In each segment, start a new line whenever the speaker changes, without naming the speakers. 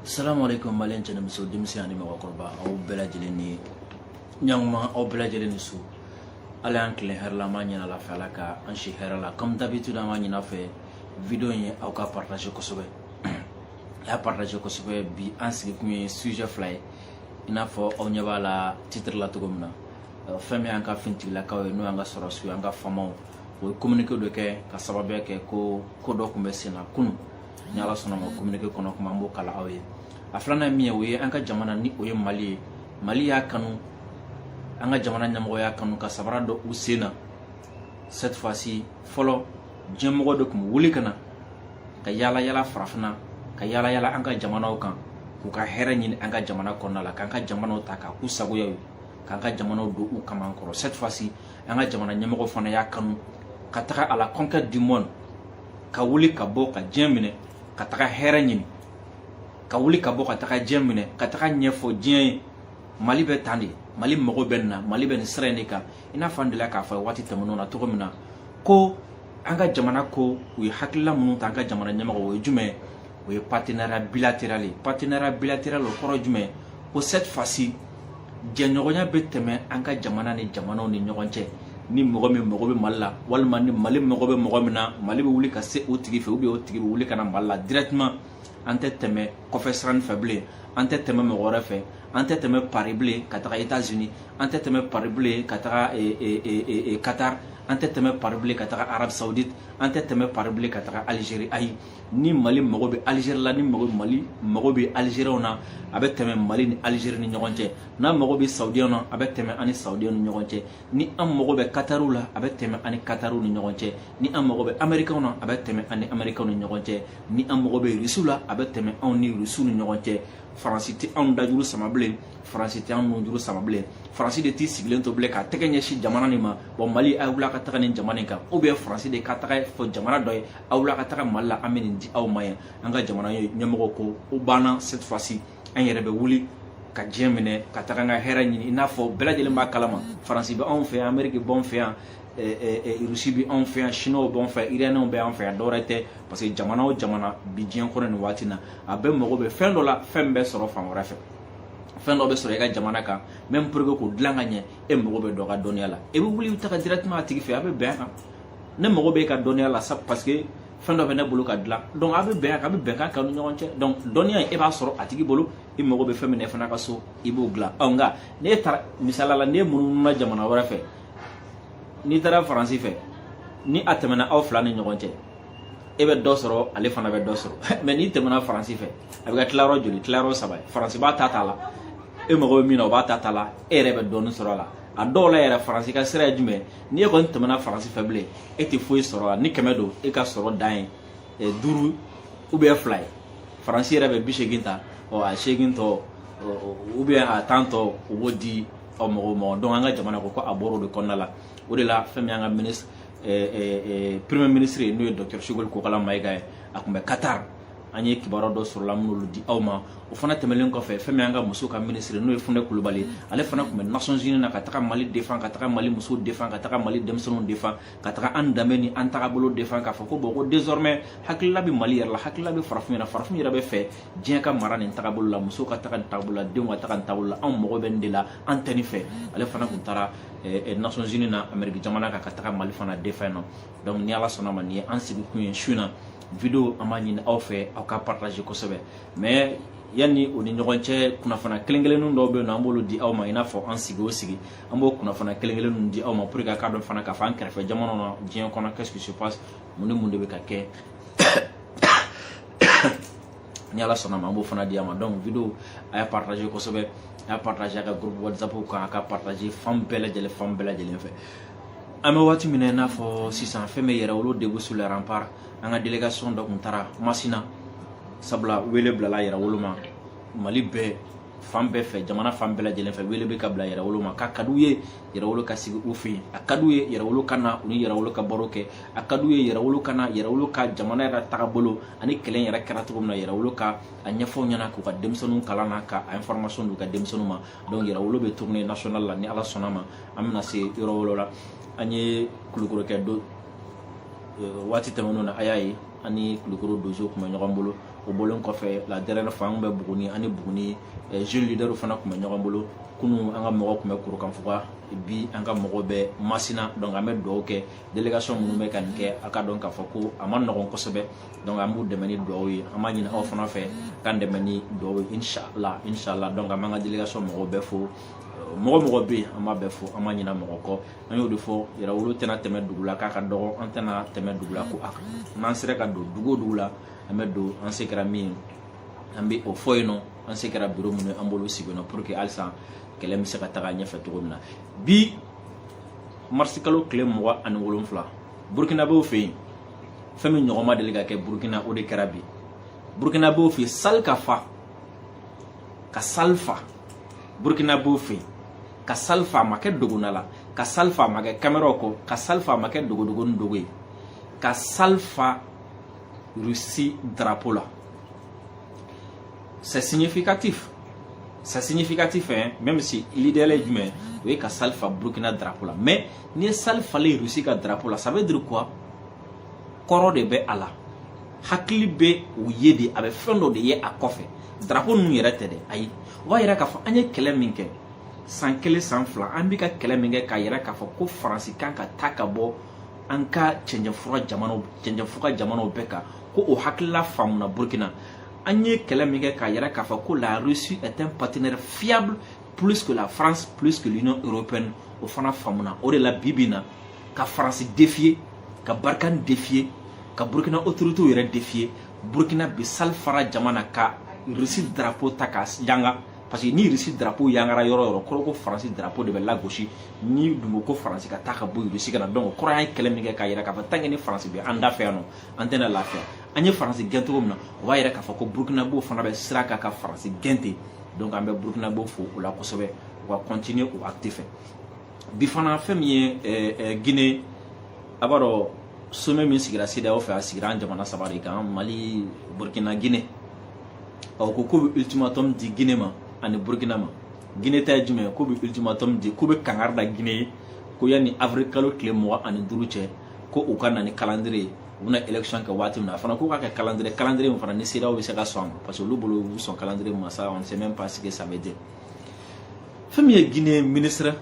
salamu aleykum maliyɛn cɛ ni muso denmisɛn ani mɔgɔkɔrɔba aw bɛɛ lajɛlen ni ɲankuma aw bɛɛ lajɛlen ni su ala y'an tilen hɛrɛ la an b'a ɲini ala fɛ ala ka an si hɛrɛ la comme d'habitude an b'a ɲini aw fɛ video in ye aw k'a partage kosɛbɛ a y'a partage kosɛbɛ bi an sigikun ye sujet fila ye i n'a fɔ aw ɲɛ b'a la titre la cogo min na euh, fɛn min y'an ka finitigilakaw ye n'o y'an ka sɔrɔdasiw y'an ka famaw o ye communiqué dɔ kɛ k'a sababuya kɛ ko ko dɔ tun bɛ sen na kunu ni ala sɔnna ma communiqué kɔnɔ kuma an b'o kalan aw ye a filanan min ye o ye an ka jamana ni o ye mali ye mali y'a kanu an ka jamana ɲɛmɔgɔ y'a kanu ka sabara don u sen na cette fois ci fɔlɔ diɲɛ mɔgɔw de tun bɛ wuli ka na ka yaala yaala farafinna ka yaala yaala an ka jamanaw kan k'u ka hɛrɛ ɲini an ka jamana kɔnɔna la k'an ka jamanaw ta k'a k'u sagoya ye k'an ka jamanaw don u kaman kɔrɔ cette fois ci an ka jamana ɲɛmɔgɔ fana y'a kanu ka taga à la conquête du monde ka wuli ka bɔ ka diɲɛ minɛ ka taga hɛrɛ ɲini ka wuli ka bɔ ka taga diɲɛ minɛ ka taga ɲɛfɔ diɲɛ ye mali bɛ tan de mali mago bɛ nin na mali bɛ nin sira in de kan i n'a fɔ an delila k'a fɔ waati tɛmɛnenw na cogo min na ko an ka jamana ko u ye hakilila minnu ta an ka jamana ɲɛmɔgɔ o ye jumɛn o ye partenariat bilateral ye partenariat bilateral o kɔrɔ jumɛn ko cette fois-ci jɛɲɔgɔnya bɛ tɛmɛ an ka jamana ni jamanaw ni ɲɔgɔn cɛ ni mɔgɔ min mago bɛ mali la walima ni mali mago bɛ mɔgɔ min na mali bɛ wuli ka se o tigi fɛ u bɛ o tigi bɛ wuli ka na mali la directement an tɛ tɛmɛ kɔfɛ sira fɛ bilen an tɛ tɛmɛ mɔgɔ wɛrɛ fɛ an tɛ tɛmɛ pari bilen ka taga etats unis an tɛ tɛmɛ pari bilen ka taga eh, eh, eh, qatar an tɛ tɛmɛ pari bilen ka taga arabie saoudite an tɛ tɛmɛ pari bilen ka taga algérie ayi ni mali mago bɛ alizeri la ni mago mali mago bɛ alizeriɛnw na a bɛ tɛmɛ mali ni alizeri ni ɲɔgɔn cɛ n'a mago bɛ saudiɛnw na a bɛ tɛmɛ a ni saudiɛnw ni ɲɔgɔn cɛ ni an mago bɛ katariw la a bɛ tɛmɛ an ni katariw ni ɲɔgɔn cɛ ni an mago bɛ amerikɛnw na a bɛ tɛmɛ an ni amerikɛnw ni ɲɔgɔn cɛ ni an mago bɛ irisiw la a bɛ tɛmɛ anw ni irisiw ni ɲɔgɔn cɛ faransi tɛ anw dajuru sama bilen faransi tɛ anw nujuru sama bilen faransi de t'i sigilen to bilen k'a tɛgɛ ɲɛsin jamana nin ma bon mali a wuli a ka taga nin jamana in kan ou bien faransi de ka taga fɔ jamana dɔ ye a wuli a ka taga mali la an bɛ nin di aw ma yan an ka jamana ɲɛmɔgɔ ko o banna cette fois ci an yɛrɛ bɛ wuli ka diɲɛ minɛ ka taga an ka hɛrɛ ɲini i n'a fɔ bɛɛ lajɛlen b'a kalama faransi bɛ anw fɛ yan ameriki b'anw fɛ yan rusi bɛ anw fɛ yan sinuwaw b'anw fɛ yan iraniɛnw bɛ anw fɛ yan dɔwɛrɛ tɛ parce que jamana o jamana bi diɲɛ kɔnɔ nin waati na a bɛɛ mago bɛ fɛn dɔ la fɛn bɛ sɔrɔ fan wɛrɛ fɛ fɛn dɔ bɛ sɔrɔ i ka jamana kan mais pour k'o dilan ka ɲɛ e mago bɛ dɔ ka dɔnniya la i bɛ wuli i bɛ taga directement a tigi fɛ a bɛ bɛn a kan ne mago b'e ka dɔnniya la sa parce que fɛn dɔ bɛ ne bolo ka dilan donc a bɛ bɛn a kan a bɛ bɛnkan k'an ni ɲɔgɔn cɛ donc dɔnniya in e b'a sɔrɔ a tigi bolo i mago bɛ fɛn min na e fana ka so i b'o dilan ɔ nka n'e taara misaliya la n'e munumuna jamana wɛrɛ fɛ n'i taara faransi fɛ ni a tɛmɛna aw fila ni ɲɔgɔn cɛ e bɛ dɔ sɔrɔ ale fana bɛ dɔ sɔrɔ mais n'i tɛmɛna faransi fɛ a bɛ kɛ tilayɔrɔ joli tilayɔrɔ saba ye faransi b'a ta t'a la e mago bɛ min na o b'a ta t'a la e yɛrɛ bɛ dɔɔnin sɔrɔ a la a dɔw la yɛrɛ faransi ka sira ye jumɛn ni e kɔni tɛmɛna faransi fɛ bilen e tɛ foyi sɔrɔ a la ni kɛmɛ don e ka sɔrɔ dan ye eh, duuru ou bien fila ye faransi yɛrɛ bɛ bi seegin ta ɔ a seegin tɔ ou bien a tan tɔ u b'o di ɔ mɔgɔw ma donc an ka jamana ko ko a bɔra o de kɔnɔna la o de la fɛn min y'an ka ministre eh, eh, premier ministre ye n'o ye docteur choguel kokala mayiga ye a tun bɛ qatar an ye kibaru dɔw sɔrɔ a la an bɛn'olu di aw ma o fana tɛmɛlen kɔfɛ fɛn min an ka muso ka minisiri n'o ye funɛ kulubali ale fana tun bɛ nations unis na ka taga mali défendre ka taga mali muso défendre ka taga mali denmisɛnninw défendre ka taga an danbe ni an tagabolo défendre k'a fɔ ko bɔn ko désormais hakilila bɛ mali yɛrɛ la hakilila bɛ farafin yɛrɛ farafin yɛrɛ b'a fɛ diɲɛ ka mara nin tagabolo la muso ka taga nin tagabolo la denw ka taga nin tagabolo la anw mago bɛ nin de la an tɛ nin fɛ ale fana tun taara Eh, eh, nations unis na amérique jamana kan ka taga mali fana défendre yen nɔ donc ni ala sɔnna ma nin ye an sigikun ye su na vidéo an b'a ɲini aw fɛ aw k'a partager kosɛbɛ mais yanni o ni ɲɔgɔn cɛ kunnafoni kelen kelenninw dɔw bɛ yen nɔ an b'olu di aw ma i n'a fɔ an sigi o sigi an b'o kunnafoni kelen kelenninw di aw ma pour que a k'a dɔn fana k'a fɔ an kɛrɛfɛ jamanaw na diɲɛ kɔnɔ qu'est-ce qui se passe mun ni mun de bɛ ka kɛ ni ala sɔnna ma an b'o fana di a ma donc vidéo a y'a partager kosɛbɛ a y'a partager a ka groupe whatsapp kan a k'a partager fan bɛɛ lajɛlen fan bɛɛ lajɛlen fɛ an bɛ waati min na i n'a fɔ sisan fɛn min yɛrɛwolo debout sur les remparts an ka délégation dɔ tun taara masina sabula wele bilala yɛrɛwolo ma mali bɛɛ fan bɛɛ fɛ jamana fan bɛɛ lajɛlen fɛ wele bɛ ka bila yɛrɛwolo ma k'a ka d'u ye yɛrɛwolo ka sigi u fɛ yen a ka d'u ye yɛrɛwolo ka na u ni yɛrɛwolo ka baro kɛ a ka d'u ye yɛrɛwolo ka na yɛrɛwolo ka jamana yɛrɛ tagabolo ani kɛlɛ in yɛrɛ kɛra cogo min na yɛrɛwolo ka a ɲɛfɔ u ɲɛ na k'u ka denmisɛnninw kalan na ka a information d'u ka denmisɛnninw ma donc yɛrɛwolo bɛ tournée national la ni ala sɔnna ma an bɛna se yɔrɔ olu la an ye kulukɔrɔ kɛ do euh, waati tɛmɛnenw na a y'a ye an ni kulukɔrɔ dozow tun bɛ ɲɔgɔn bolo o bɔlen kɔfɛ la dernière fois an tun bɛ buguni an ni buguni euh, jeunes leaders fana tun bɛ ɲɔgɔn bolo kunu an ka mɔgɔ tun bɛ kurukanfuga bi an ka mɔgɔ bɛ masina donc an bɛ dugawu kɛ délégation minnu bɛ ka nin kɛ a k'a dɔn k'a fɔ ko a man nɔgɔn kosɛbɛ donc an b'u dɛmɛ ni dugawu ye an b'a ɲini aw fana fɛ k'an dɛmɛ ni dugawu ye inshallah inshallah donc an b'an ka délégation mɔgɔw bɛɛ fo mɔgɔ o mɔgɔ bɛ yen an b'a bɛɛ fo an ma ɲina mɔgɔ kɔ an y'o de fɔ yɛrɛwolo tɛna tɛmɛ dugu la k'a ka dɔgɔ an tɛna tɛmɛ dugu la ko a kan n'an sera ka don dugu o dugu la an bɛ don an se kɛra min ye an bɛ o fɔ yen nɔ an se kɛra biro minnu ye an b'olu sigi yen nɔ pour que halisa kɛlɛ bɛ se ka taga ɲɛfɛ cogo min na bi marisikalo tile mugan ani wolonfila burukinabew fɛ yen fɛn min ɲɔgɔn ma deli ka kɛ burukina o de kɛra bi burukinabew fɛ yen sali ka fa ka sali fa burukinabew fɛ yen ka sali fa a ma kɛ dogona la ka sali fa a ma kɛ kameraw kɔ ka sali fa a ma kɛ dogodogonin dogo ye ka sali fa rusi darapo la c'est significatif c'est significatif hein même si l'idéal jumɛn o ye ka sali fa burukina drapeau la mais n'i ye sali falen russie ka drapeau la ça veut dire quoi kɔrɔ de bɛ a la hakili bɛ o ye de a bɛ fɛn dɔ de ye a kɔfɛ drapeau ninnu yɛrɛ tɛ dɛ ayi o b'a yira k'a fɔ an ye kɛlɛ min kɛ san kelen san fila an bɛ ka kɛlɛ min kɛ k'a yira k'a fɔ ko faransi kan ka taa ka bɔ an ka cɛncɛnfuga jamanaw bɛɛ kan ko o hakilila faamuna burukina an ye kɛlɛ min kɛ k'a yira k'a fɔ ko la russie est un partenaire fiable plus que la france plus que l'union européenne o fana faamuna o de la bi bi na ka faransi défier ka barkhane défier ka burkina autoritéw yɛrɛ défier burkina bi sali fara jama na ka russie drapeau ta k'a yanga parce que ni russie drapeau yangara yɔrɔ o yɔrɔ kɔrɔ ko faransi drapeau de bɛ lagosi n'u dun ko faransi ka taa ka bɔ russie ka na donc kɔrɔ an ye kɛlɛ min kɛ k'a yira k'a fɔ tant que ni faransi bɛ an da fɛ yan nɔ an tɛna lafiya an ye faransi gɛn cogo min na o b'a yira k'a fɔ ko burukinabew fana bɛ sira kan ka faransi gɛn ten donc an bɛ burukinabew fo o la kosɛbɛ u ka kɔntiniye o acte fɛ bi fana fɛn min ye eh, eh, gine a b'a dɔn somɛ min sigira CEDEAO fɛ a sigira an jamana saba de kan mali burkina gine u ko k'u bɛ ultimatum di gine ma ani burkina ma gine ta ye jumɛn ye k'u bɛ ultimatum di k'u bɛ kangari da gine ye ko yanni avril kalo tile mugan ani duuru cɛ ko u ka na ni kalandire ye u bɛna election kɛ waati min na a fana k'o ka kɛ kalandire kalandire min fana ni CEDEAO bɛ se ka sɔn a ma parce que olu bolo sɔn kalandire ma ça on sait même pas ce que ça veut dire fɛn min ye Guinée ministre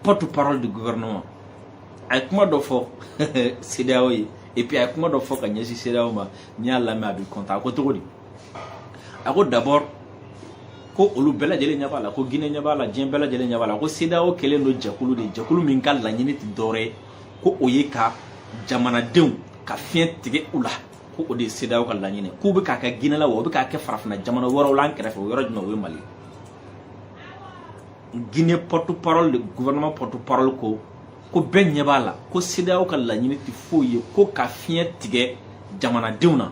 porte parole du gouvernement a ye kuma dɔ fɔ CEDEAO ye et puis a ye kuma dɔ fɔ ka ɲɛsin CEDEAO ma n'i y'a lamɛn a b'i kɔntan a ko cogo di a ko d'abord ko olu bɛɛ lajɛlen ɲɛ b'a la ko guinée ɲɛ b'a la diɲɛ bɛɛ lajɛlen ɲɛ b'a la ko CEDEAO kɛlen don jɛkulu de jɛkulu min ka laɲini tɛ dɔwɛrɛ ye ko o ye ka jamanadenw ka fiɲɛ tigɛ u la ko o de ye CEDEAO ka laɲini k'u bɛ k'a kɛ guinée la wa u bɛ k'a kɛ farafinna jamana wɛrɛw la an kɛrɛfɛ o yɔrɔ jumɛn o ye mali guinée porte parole gouvernement porte parole ko ko bɛɛ ɲɛ b'a la ko CEDEAO ka laɲini tɛ foyi ye ko ka fiɲɛ tigɛ jamanadenw na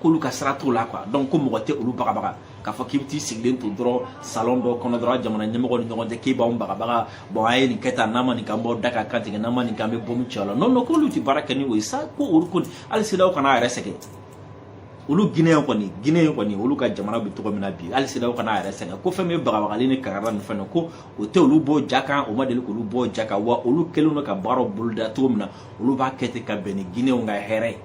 k'olu ka sira t'o la quoi donc ko mɔgɔ tɛ olu bagabaga k'a fɔ k'i bɛ t'i sigilen to dɔrɔn salon dɔ kɔnɔ dɔrɔn jamana ɲɛmɔgɔ ni ɲɔgɔn cɛ k'i b'anw bagabaga bon a ye nin kɛ tan n'a ma nin k'an b'aw da ka kan tigɛ n'a ma nin k'an bɛ bɔmu cɛ la non non k'olu tɛ baara kɛ ni o ye sa ko olu kɔni hali CEDEAO kana a yɛrɛ sɛgɛn olu Guinéen kɔni Guinéen kɔni olu ka jamana bɛ cogo min na bi hali CEDEAO kana a yɛrɛ sɛgɛn ko fɛn min ye bagabagali ni kankarida ni fɛn na ko o tɛ olu bɔ ja kan o ma deli k'olu bɔ ja kan wa olu kɛlen don ka baaraw boloda cogo min na olu b'a kɛ ten ka bɛn ni Guinéenw ka hɛrɛ ye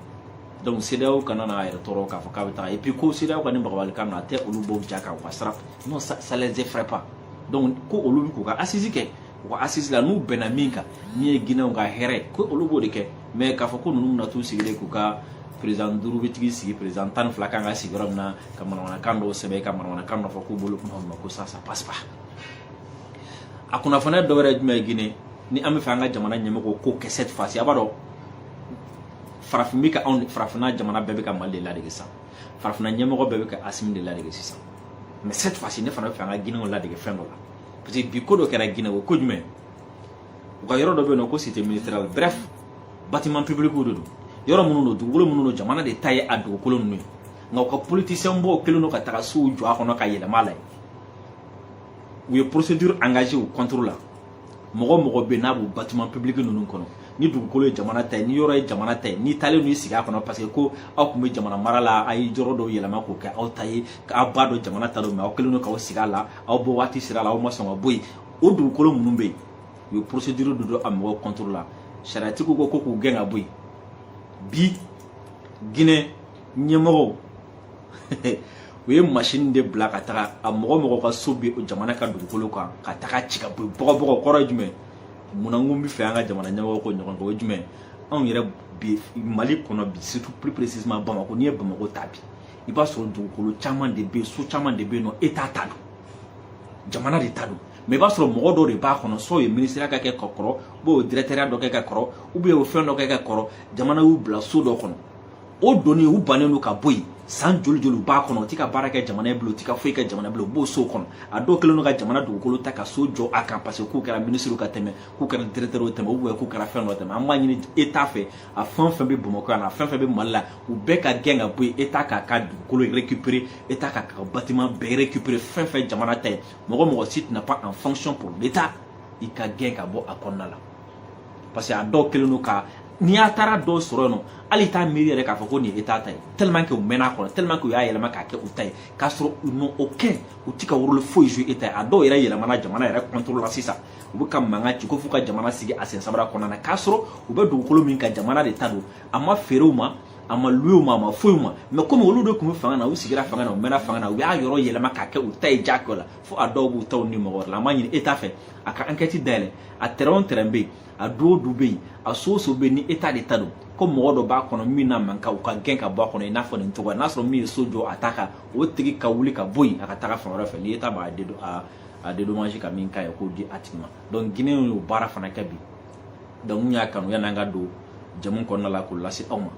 donc CEDEAO kana n'a yɛrɛ tɔɔrɔ k'a fɔ k'a bɛ taa et puis ko CEDEAO ka nin bagabagali kan a tɛ olu bɔ ja kan u ka sira non ça, ça les effraie pas donc ko olu bɛ k'u ka assise kɛ u ka assise la n'u bɛnna min kan min ye Guinéenw ka hɛrɛ ko olu b'o de kɛ mais k'a fɔ ko ninnu bɛna t'u sigilen k'u ka président duuru bɛ t'u sigi président tan ni fila kan ka sigi yɔrɔ min na ka manamanakan dɔw sɛbɛn ka manamanakan dɔ fɔ k'u bolo kuma ma ko ça ça passe pas a kunnafoniya dɔ wɛrɛ ye jumɛn ye Guinée ni an b'a fɛ an ka jamana ɲɛmɔgɔw k'o kɛ cette fois ci a b'a dɔn farafin bɛ ka anw farafinna jamana bɛɛ bɛ ka mali de ladege sisan farafinna ɲɛmɔgɔ bɛɛ bɛ ka asimi de ladege sisan mais cette fois ci ne fana b'a fɛ an ka Guinéenw ladege fɛn dɔ la parce que bi ko dɔ kɛra Guinée o ko jumɛn u ka yɔrɔ dɔ bɛ yen n'u ko cité ministérielle bref bâtiment public de don yɔrɔ minnu don dugukolo minnu don jamana de ta ye a dugukolo ninnu ye nka u ka politicien dɔw kɛlen don ka taga sow jɔ a kɔnɔ ka yɛlɛma a la u ye procédure engagée u contre la mɔgɔ o mɔgɔ bɛ n'a b'o bâtiment public ninnu kɔnɔ ni dugukolo ye jamana ta ye ni yɔrɔ ye jamana ta ye n'i taalen n'i sigi a kɔnɔ parce que ko aw tun bɛ jamana mara la a ye yɔrɔ dɔw yɛlɛma k'o kɛ aw ta ye k'aw b'a dɔn jamana ta don mais aw kɛlen don k'aw sigi a la aw bɔ waati sera a la aw ma sɔn ka bɔ yen o dugukolo minnu bɛ yen u ye procédure de don a mɔgɔw contre la sariyatigiw ko ko k'u gɛn ka bɔ yen bi Guinée ɲɛmɔgɔw u ye masini de bila ka taga a mɔgɔ mɔgɔ ka so bɛ jamana ka dugukolo kan ka taga ci ka bɔ bɔgɔbɔgɔ kɔrɔ ye jumɛn munna n ko n b'a fɛ an ka jamana ɲɛmɔgɔ k'o ɲɔgɔn kɛ o ye jumɛn anw yɛrɛ bi mali kɔnɔ bi surtout plus précisément bamakɔ n'i ye bamakɔ ta bi i b'a sɔrɔ dugukolo caman de bɛ yen so caman de bɛ yen n'o État ta don jamana de ta don mais i b'a sɔrɔ mɔgɔ dɔ de b'a kɔnɔ so ye minisiriya ka kɛ ka kɔrɔ ou bien dirɛkitɛriya dɔ kɛ ka kɔrɔ ou bien o fɛn dɔ kɛ ka kɔrɔ jamana y'u bila so dɔ kɔnɔ o doni u bannen don ka bɔ yen san joli joli u b'a kɔnɔ u tɛ ka baara kɛ jamana ye bilen u tɛ ka foyi kɛ jamana bilen u b'o so kɔnɔ a dɔw kɛlen don ka jamana dugukolo ta ka so jɔ a kan parce que k'u kɛra minisiriw ka tɛmɛ k'u kɛra diretɛriw tɛmɛ ou bien k'u kɛra fɛn dɔ tɛmɛ an b'a ɲini État fɛ a fɛn o fɛn bɛ bamakɔ yan a fɛn fɛn bɛ mali la u bɛɛ ka gɛn ka bɔ yen État k'a ka dugukolo récupérer État k'a ka bâtiment bɛɛ récupérer fɛn fɛn jamana ta ye mɔgɔ mɔgɔ si tu n'es pas en fonction pour l'état i ka gɛn ka bɔ a kɔnɔna la parce que a dɔw kɛlen don ka n'i y'a taara dɔw sɔrɔ yen nɔ hali t'a miiri yɛrɛ k'a fɔ ko nin ye État ta ye tellement que u mɛnna a kɔnɔ tellement que u y'a yɛlɛma k'a kɛ u ta ye k'a sɔrɔ u n'ont aucun u ti ka rôle foyi jouer État ye a dɔw yɛrɛ yɛlɛmana jamana yɛrɛ contrôle la sisan u bɛ ka mankan ci ko f'u ka jamana sigi a sen sabara kɔnɔna na k'a sɔrɔ u bɛ dugukolo min kan jamana de ta don a ma feere u ma a ma louer u ma a ma foyi u ma mais comme olu de tun bɛ fanga na u sigira fanga na u mɛnna fanga na u y'a yɔrɔ yɛlɛma k'a kɛ u ta ye jagoya la fo a dɔw b'u taw ni mɔgɔ wɛrɛ la an b'a ɲini État fɛ a ka enquête dayɛlɛ a terrain o terrain bɛ yen a du o du bɛ yen a so o so bɛ yen ni État de ta don ko mɔgɔ dɔ b'a kɔnɔ min n'a man kan u k'a gɛn ka bɔ a kɔnɔ i n'a fɔ nin cogoya n'a sɔrɔ min ye so jɔ a ta kan o tigi ka wuli ka bɔ yen a ka taga fan wɛrɛ fɛ ni État b'a dédo a a dédommage ka min k'a ye k'o di a tigi ma donc Guinée y'o baara fana kɛ bi donc n y'a kanu yan'an ka don jamu kɔnɔna la k'o lase aw ma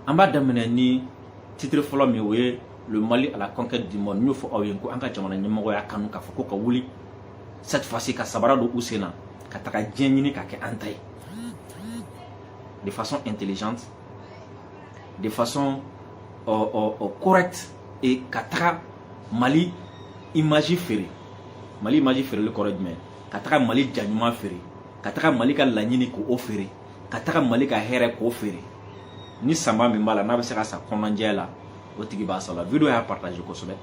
an b'a daminɛ ni titre fɔlɔ min o ye le Mali à la conquête du monde n y'o fɔ aw ye ko an ka jamana ɲɛmɔgɔ y'a kanu k'a fɔ ko ka wuli cette fois ci ka sabara don u sen na ka taga diɲɛ ɲini ka kɛ an ta ye de façon intelligente de façon euh, euh, euh, correcte et ka taga Mali image feere Mali image feereli kɔrɔ jumɛn ka taga Mali ja ɲuman feere ka taga Mali ka laɲini k'o feere ka taga Mali ka hɛrɛ k'o feere ni sanba min b'a la n'a bɛ se ka sa kɔnɔnajɛ la o tigi b'a sala video y'a partage kosɛbɛ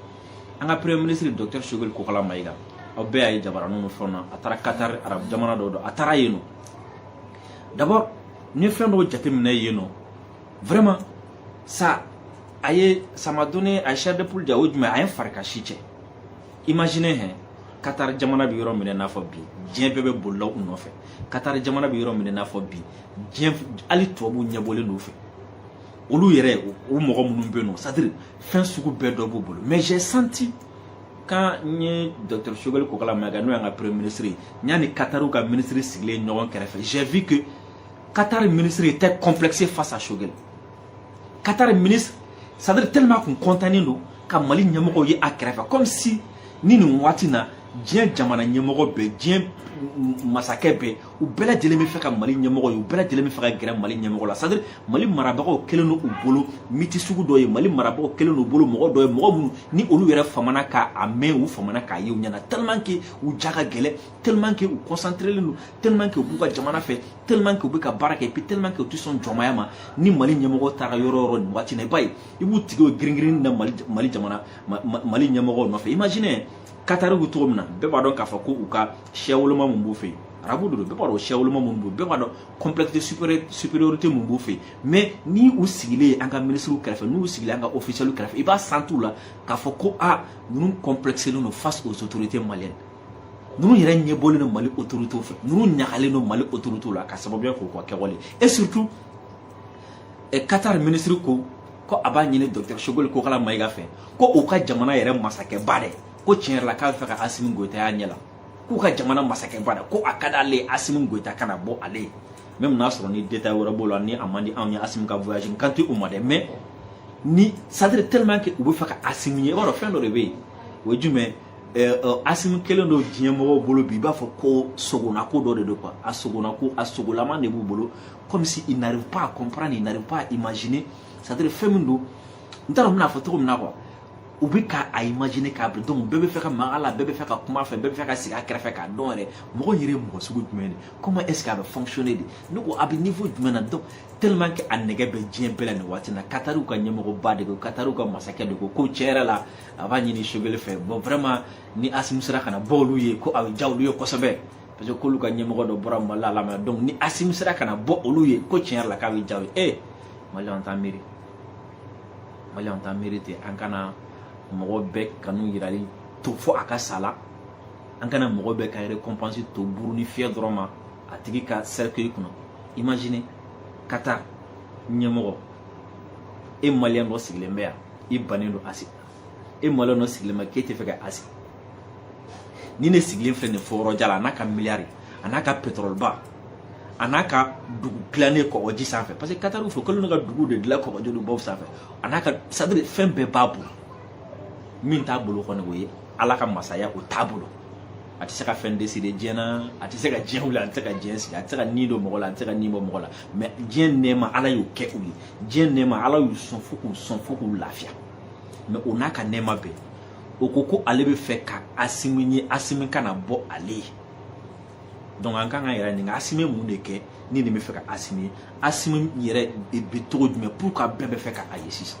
an ka premier ministre docteur Choguel Kokala Mayiga aw bɛɛ y'a ye jabaraniw ni fɛnw na a taara Qatar arabu jamana dɔ don a taara yen nɔ d'abord n ye fɛn dɔw jateminɛ yen nɔ vraiment ça a ye ça m'a donné a ye chair de poule ja o jumɛn a ye fari ka si cɛ imaginez hein Qatar jamana bɛ yɔrɔ min i n'a fɔ bi diɲɛ bɛɛ bɛ bolila u nɔfɛ Qatar jamana bɛ yɔrɔ min i n'a fɔ bi diɲɛ hali tubabuw ɲɛbɔlen don u fɛ olu yɛrɛ o mɔgɔ minnu bɛ yen nɔ c'est à dire fɛn sugu bɛɛ dɔ b'u bolo mais j'ai senti quand n ye docteur Choguel Kokala Mayiga n'o y'an ka premier ministre ye n y'a ni Qatariw ka ministre sigilen ɲɔgɔn kɛrɛfɛ j'ai vu que Qatar ministre était complexé face à Choguel Qatar ministre c'est à dire tellement que u contentnen don ka Mali ɲɛmɔgɔw ye a kɛrɛfɛ comme si ni nin waati na diɲɛ jamana ɲɛmɔgɔ bɛɛ diɲɛ masakɛ bɛɛ u bɛɛ lajɛlen bɛ fɛ ka mali ɲɛmɔgɔ ye u bɛɛ lajɛlen bɛ fɛ ka gɛrɛ mali ɲɛmɔgɔ la c'est à dire mali marabagaw kɛlen don u bolo mythe sugu dɔ ye mali marabagaw kɛlen don u bolo mɔgɔ dɔ ye mɔgɔ minnu ni olu yɛrɛ famana k'a mɛn u famana k'a ye u ɲɛ na tellement que u ja ka gɛlɛn tellement que u concentrelen don tellement que u b'u ka jamana fɛ tellement que u bɛ ka baara kɛ et puis tellement que u tɛ sɔn jɔnmaya ma ni mali ɲɛmɔgɔ taara yɔrɔ o yɔrɔ nin waati na i b'a ye i b'u tigi o giringirin na mali mali jamana mali ɲɛmɔgɔ nɔfɛ imaginez Qatar bɛ cogo min na bɛɛ b'a dɔn k'a fɔ ko u ka siyawoloma mun b'u fɛ yen arabu de don bɛɛ b'a dɔn siyawoloma mun b'u bɛɛ b'a dɔn complexe supériorité mun b'u fɛ yen mais ni u sigilen an ka minisiriw kɛrɛfɛ n'u sigilen an ka officiel kɛrɛfɛ i b'a sentir u la k'a fɔ ko a ninnu complexelen don face aux autorités maliennes ninnu yɛrɛ ɲɛbɔlen don mali autorités fɛ ninnu ɲagalen don mali autorités la ka sababuya k'u ka kɛwale et surtout Qatar minisiri ko ko a b'a ɲini docteur Choguel Kokala Mayiga fɛ ko u ka jamana yɛrɛ masakɛba dɛ ko tiɲɛ yɛrɛ la k'a bɛ fɛ ka asimi goyita y'a ɲɛ la k'u ka jamana masakɛba la ko a ka d'ale ye asimi goyita ka na bɔ ale ye mais n'a sɔrɔ ni détail wɛrɛ b'o la ni a man di anw ye asimi ka voyage n kan tɛ o ma dɛ mais ni c'est à dire tellement que u bɛ fɛ ka asimi ye i b'a dɔn fɛn dɔ de bɛ yen o ye jumɛn asimi kelen don diɲɛ mɔgɔw bolo bi i b'a fɔ ko sugo na ko dɔ de don quoi a sugo na ko a sugolama de b'u bolo comme si ils n'arrivent pas à comprendre ils n'arrivent pas à imaginer c'est à dire fɛn min don n t'a dɔn n bɛn'a fɔ cogo min na quoi u bɛ ka a imaginer k'a bila donc bɛɛ bɛ fɛ ka maga a la bɛɛ bɛ fɛ ka kuma a fɛ bɛɛ bɛ fɛ ka sigi a kɛrɛfɛ k'a dɔn yɛrɛ mɔgɔ yɛrɛ ye mɔgɔ sugu jumɛn de comment est ce que a bɛ fonctionner de ne ko a bɛ niveau jumɛn na donc tellement que a nɛgɛ bɛ diɲɛ bɛɛ la nin waati in na katariw ka ɲɛmɔgɔba de ko katariw ka masakɛ de ko ko tiɲɛ yɛrɛ la a b'a ɲini Choguel fɛ bon vraiment ni asimi sera ka na bɔ olu ye ko a bɛ diya olu ye kosɛbɛ parce que k'olu ka ɲɛmɔgɔ dɔ bɔra mali la lamɛn donc ni asimi sera ka na bɔ olu ye ko tiɲɛ yɛrɛ la k'a bɛ diya u ye ee mali an t'an miiri mali an t'a miiri ten an kana mɔgɔ bɛɛ kanu yirali to fo a ka saya la an kana mɔgɔ bɛɛ ka récompense to burunin fiyɛ dɔrɔn ma a tigi ka cercueil kunna imagine Qatar ɲɛmɔgɔ e maliyɛn dɔ sigilen bɛ yan i bannen don asimi e maliyɛn dɔ sigilen bɛ k'e tɛ fɛ ka asimi ni nin sigilen filɛ nin fo yɔrɔ jan na a n'a ka miliyari a n'a ka pɛtɔrɔliba a n'a ka dugu dilannen kɔgɔji sanfɛ parce que katariw fɛ kɛlen don ka dugu de dilan kɔgɔji ni baw sanfɛ a n'a ka c'est à dire fɛn bɛɛ b'a bolo min t'a bolo kɔni o ye ala ka masaya o t'a bolo a tɛ se ka fɛn deside diɲɛ na a tɛ se ka diɲɛ wuli a tɛ se ka diɲɛ sigi a tɛ se ka ni don mɔgɔ la a tɛ se ka ni bɔ mɔgɔ la mais diɲɛ nɛɛma ala y'o kɛ u ye diɲɛ nɛɛma ala y'u sɔn fo k'u sɔn fo k'u lafiya mais o n'a ka nɛɛma bɛɛ o ko ko ale bɛ fɛ ka asimi ye asimi ka na bɔ ale ye donc an kan k'an yɛrɛ ɲininka asimi mun de kɛ ni nin bɛ fɛ ka asimi ye asimi yɛrɛ bɛ cogo jumɛn pour que bɛɛ bɛ fɛ ka a ye sisan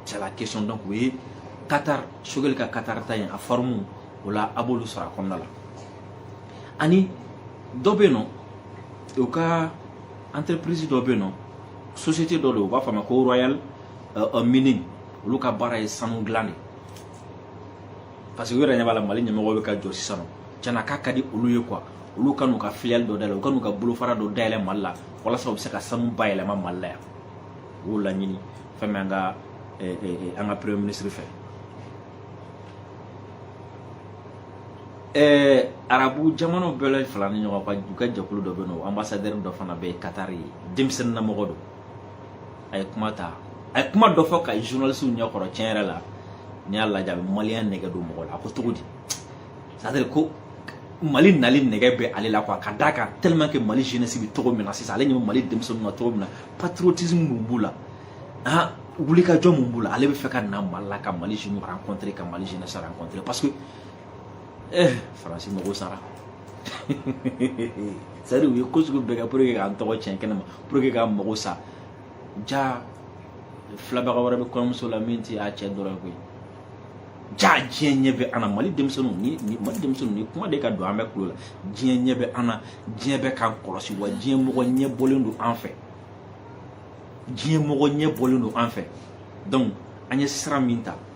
c'est la question donc o ye Qatar Choguel ka Qatar taa in affaire minw b'o la a b'olu sɔrɔ a kɔnɔna la ani dɔ bɛ yen nɔ u ka entreprise dɔ bɛ yen nɔ société dɔ don u b'a fɔ a ma ko royal uh, mining olu ka baara ye sanu dilan de parce que u yɛrɛ ɲɛ b'a la mali ɲɛmɔgɔ bɛ ka jɔ sisan nɔ cɛna k'a ka di olu ye quoi olu ka n'u ka filiale dɔ dayɛlɛ u ka n'u ka bolofara dɔ dayɛlɛ mali la walasa u bɛ se ka sanu bayɛlɛma mali la yan u y'o laɲini fɛn min an ka eh, eh, eh, an ka premier ministre fɛ Eh, arabu jamanaw bɛɛ la faralen ɲɔgɔn kan u ka jɛkulu dɔ bɛ yen nɔ ambassadeur dɔ fana bɛ yen Qatar denmisɛnnin na mɔgɔ don a ye kuma ta a ye kuma dɔ fɔ ka journaliste ɲɛ kɔrɔ tiɲɛ yɛrɛ la n'i y'a lajɛ a bɛ maliyɛn nɛgɛ don mɔgɔ la a ko cogo di c'est à dire ko mali nali nɛgɛ bɛ ale la quoi ka d'a kan tellement que mali jeunesse bɛ cogo min na sisan ale ɲɛ bɛ mali denmisɛnninw na cogo min na patriotisme mun b'u la ah wulikajɔ mun b'u la ale bɛ fɛ ka na mali la ka mali jeunes rencontrer ka mali jeunesse rencontrer parce que eh, faransi mago sara c'est à dire u ye ko sugu bɛɛ kɛ pour que k'an tɔgɔ tiɲɛ kɛnɛ ma pour que k'an mago sa ja filɛbaga wɛrɛ bɛ kɔɲɔmuso la min tɛ a cɛ dɔrɔn koyi ja diɲɛ ɲɛ bɛ an na mali denmisɛnninw ni ni mali denmisɛnninw nin kuma de ka don an bɛɛ tulo la diɲɛ ɲɛ bɛ an na diɲɛ bɛ k'an kɔlɔsi wa diɲɛ mɔgɔ ɲɛ bɔlen don an fɛ diɲɛ mɔgɔ ɲɛ bɔlen don an fɛ donc an ye sira min ta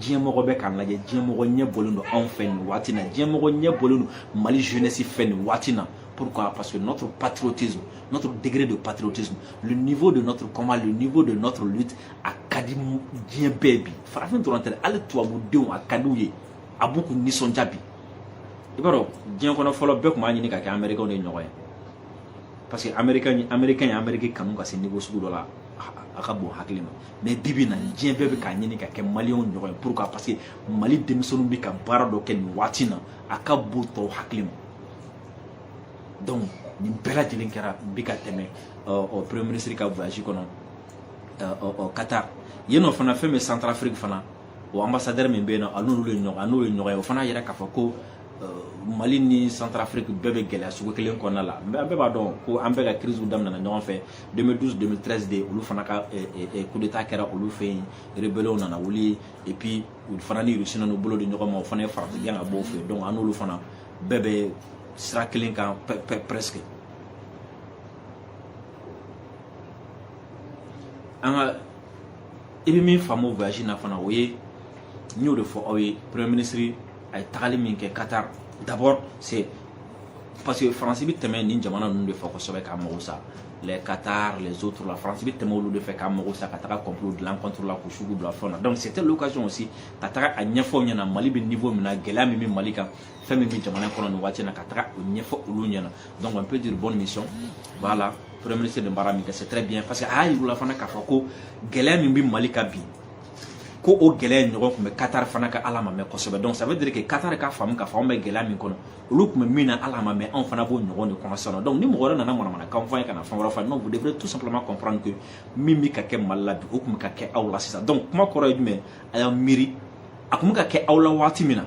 diɲɛmɔgɔ bɛ k'an lajɛ diɲɛmɔgɔ ɲɛ bɔlen don anw fɛ nin waati na diɲɛmɔgɔ ɲɛ bɔlen don mali jeunesse fɛ nin waati na pourquoi parce que notre patriotisme notre degré de patriotisme le niveau de notre combat le niveau de notre lutte a ka di diɲɛ bɛɛ bi farafin dɔrɔn tɛ hali tubabudenw a ka di u ye a b'u k'u nisɔndiya bi i b'a dɔn diɲɛ kɔnɔ fɔlɔ bɛɛ tun b'a ɲini ka kɛ américain de ɲɔgɔn ye parce que américain américain ye amérique kanu ka se niveau sugu dɔ la a ka bon hakili ma mais bibi na diɲɛ bɛɛ bɛ k'a ɲini ka kɛ maliyɛnw ɲɔgɔn ye pourquoi parce que mali denmisɛnninw bɛ ka baara dɔ kɛ nin waati na a ka bon tɔw hakili ma donc nin bɛɛ lajɛlen kɛra n bɛ ka tɛmɛ ɔ premier ministre ka voyage kɔnɔ ɔ qatar yen nɔ fana fɛn bɛ centrafrique fana o ambassadeur min bɛ yen nɔ a n'olu ye ɲɔgɔn a n'o ye ɲɔgɔn ye o fana y'a yira k'a fɔ ko mali ni centrafrique bɛɛ bɛ gɛlɛya sugu kelen kɔnɔna la mais an bɛɛ b'a dɔn ko an bɛɛ ka crise daminɛna ɲɔgɔn fɛ 2012 2013 de olu fana ka coup d'état kɛra olu fɛ yen rebelew nana wuli et puis u fana ni rusi nana bolo di ɲɔgɔn ma o fana ye farati gɛn ka b'u fɛ yen donc an n'olu fana bɛɛ bɛ sira kelen kan presque nka i bɛ min faamu voyage na fana o ye n y'o de fɔ aw ye premier ministre a ye tagali min kɛ Qatar d'abord c'est parce que France bɛ tɛmɛ nin jamana ninnu de fɛ kosɛbɛ k'a mago sa les Qatar les autres la France bɛ tɛmɛ olu de fɛ k'a mago sa ka taga complot dilan contre la k'u sugu bila fɛnw na donc c'était l'occasion aussi ka taga a ɲɛfɔ u ɲɛna Mali bɛ niveau min na gɛlɛya min bɛ Mali kan fɛn min bɛ jamana kɔnɔ nin waati in na ka taga o ɲɛfɔ olu ɲɛna donc on peut dire bonne mission voilà premier ministre ye baara min kɛ c'est très bien parce que a y'a yir'u la fana k'a fɔ ko gɛlɛya min bɛ Mali kan bi ko o gɛlɛya ɲɔgɔn kun bɛ katari fana kan ala ma mɛn kosɛbɛ donc ça veut dire que katari ka faamu k'a fɔ anw bɛ gɛlɛya min kɔnɔ olu kun bɛ min na ala ma mɛn anw fana b'o ɲɔgɔn de kɔnɔ sisan donc ni mɔgɔ wɛrɛ nana manamanakan fɔ an ye ka na fɛn wɛrɛ fɔ non vous devrez tout simplement comprendre que min bɛ ka kɛ mali la bi o kun bɛ ka kɛ aw la sisan donc kuma kɔrɔ ye jumɛn a y'a miiri a kun bɛ ka kɛ aw la waati min na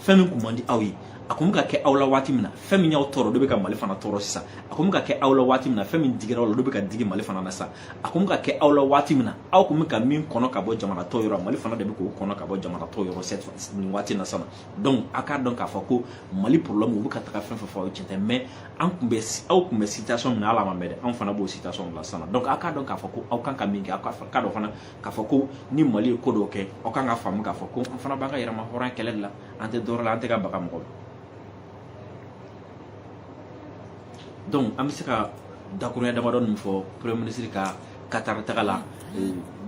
fɛn min kun man di aw ye a kun bɛ ka kɛ aw la waati min na fɛn min y'aw tɔɔrɔ o de bɛ ka mali fana tɔɔrɔ sisan a kun bɛ ka kɛ aw la waati min na fɛn min digira aw la o de bɛ ka digi mali fana na sisan a kun bɛ ka kɛ aw la waati min na aw kun bɛ ka min kɔnɔ ka bɔ jamana tɔw yɔrɔ mali fana de bɛ k'o kɔnɔ ka bɔ jamana tɔw yɔrɔ nin waati na sisan donc a k'a dɔn k'a fɔ ko mali problème u bɛ ka taga fɛn fɛn fɔ aw ye tiɲɛ tɛ mais an kun bɛ aw kun bɛ situation min na ala ma mɛn dɛ anw fana b'o situation in na sisan donc a k'a dɔn k'a fɔ ko aw kan ka min kɛ aw kan k'a dɔn fana k'a fɔ ko ni mali ye ko dɔw kɛ aw kan ka faamu k'a fɔ ko an fana b'an ka yɛrɛmahɔrɔnya kɛlɛ de la an tɛ dɔwɛrɛ la an tɛ ka baga mɔgɔ la donc an bɛ se ka dakurunya damadɔ ninnu fɔ premier ministre ka katari taga la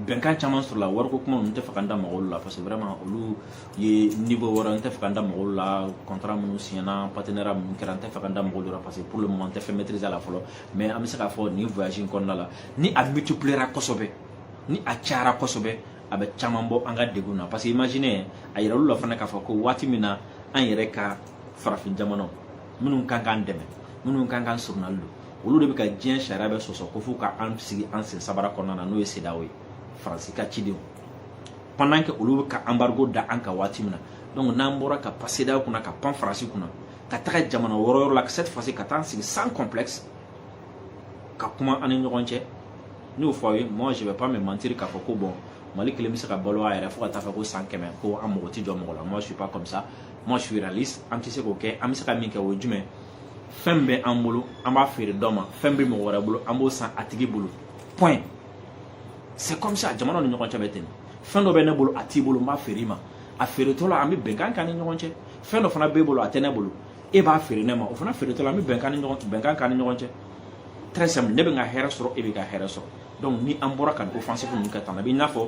bɛnkan caman sɔrɔla wariko kuma ninnu n tɛ fɛ ka n da maga u la parce que vraiment olu ye niveau wɛrɛ n tɛ fɛ ka n da maga u la contrat minnu siɲɛna partenariat minnu kɛra n tɛ fɛ ka n da maga u la parce que pour le moment n tɛ fɛn maîtriser a la fɔlɔ mais an bɛ se k'a fɔ nin voyage in kɔnɔna la ni a multipliera kosɛbɛ ni a cayara kosɛbɛ a bɛ caman bɔ an ka degun na parce que imagine a yira olu la fana k'a fɔ ko waati min na an yɛrɛ ka farafin jamanaw minnu kan k'an dɛmɛ minnu kan k'an surunali don olu de bɛ ka diɲɛ sariya bɛɛ sɔsɔ ko fo ka an sigi an sen sabara kɔnɔna na n'o ye sedaw ye faransi ka cidenw pendant que olu bɛ ka anbarigo da an kan waati min na donc n'an bɔra ka pan sedaw kunna ka pan faransi kunna ka taga jamana wɛrɛ yɔrɔ la ka cette fois-ci ka taa an sigi sans complexe ka kuma an ni ɲɔgɔn cɛ ne y'o fɔ aw ye moi je vais pas me mentir k'a fɔ ko bon mali kelen bɛ se ka balo a yɛrɛ fo ka taa fɛ ko san kɛmɛ ko an mago tɛ jɔ mɔgɔ la moi je suis pas comme ça moi je suis réaliste an tɛ se k'o kɛ an bɛ se ka min kɛ o ye jumɛn fɛn bɛ an bolo an b'a feere dɔ ma fɛn bɛ mɔgɔ wɛrɛ bolo an b'o san a tigi bolo point c'est comme ça jamana ni ɲɔgɔn cɛ bɛ ten fɛn dɔ bɛ ne bolo a t'i bolo n b'a feere i ma a feeretɔ la an bɛ bɛnkan k'an ni ɲɔgɔn cɛ fɛn dɔ fana b'e bolo a tɛ ne bolo e b'a feere ne ma o fana feeretɔ la an bɛ bɛnkan ni ɲɔgɔn bɛnkan k'an ni ɲɔgɔn cɛ très simple ne bɛ n ka hɛrɛ sɔrɔ e b'i ka hɛrɛ sɔrɔ donc ni an bɔra ka nin offensive ninnu kɛ tan na i n'a fɔ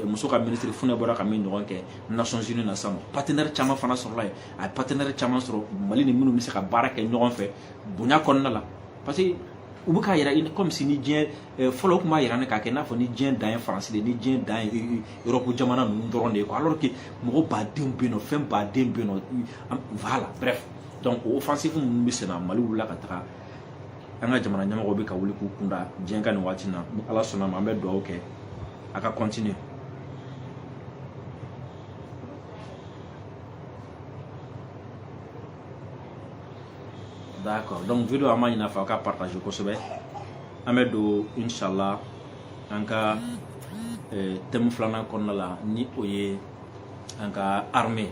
muso ka ministre fune bɔra ka min ɲɔgɔn kɛ nations unies na sa partenaire caman fana sɔrɔla yen a ye partenaire caman sɔrɔ mali ni minnu bɛ se ka baara kɛ ɲɔgɔn fɛ bonya kɔnɔna la parce que u bɛ k'a yira comme si ni diɲɛ fɔlɔ kun b'a yira ne k'a kɛ i n'a fɔ ni diɲɛ dan ye faransi de ni diɲɛ dan ye europe jamana ninnu dɔrɔn de ye alors que mɔgɔ badenw bɛ yen fɛn badenw bɛ yen voilà bref donc o offensive minnu bɛ sen na mali wulila ka taga an ka jamana ɲɛmɔgɔw bɛ ka wuli k'u kunda diɲɛ kan nin waati na ni ala sɔnna ma an bɛ dugawu kɛ a ka continuer d'accord donc vidéo an b'a ɲin'a fɛ a ka partager kosɛbɛ an bɛ don inshallah an ka eh, thème filanan kɔnɔna la ni o ye an ka armée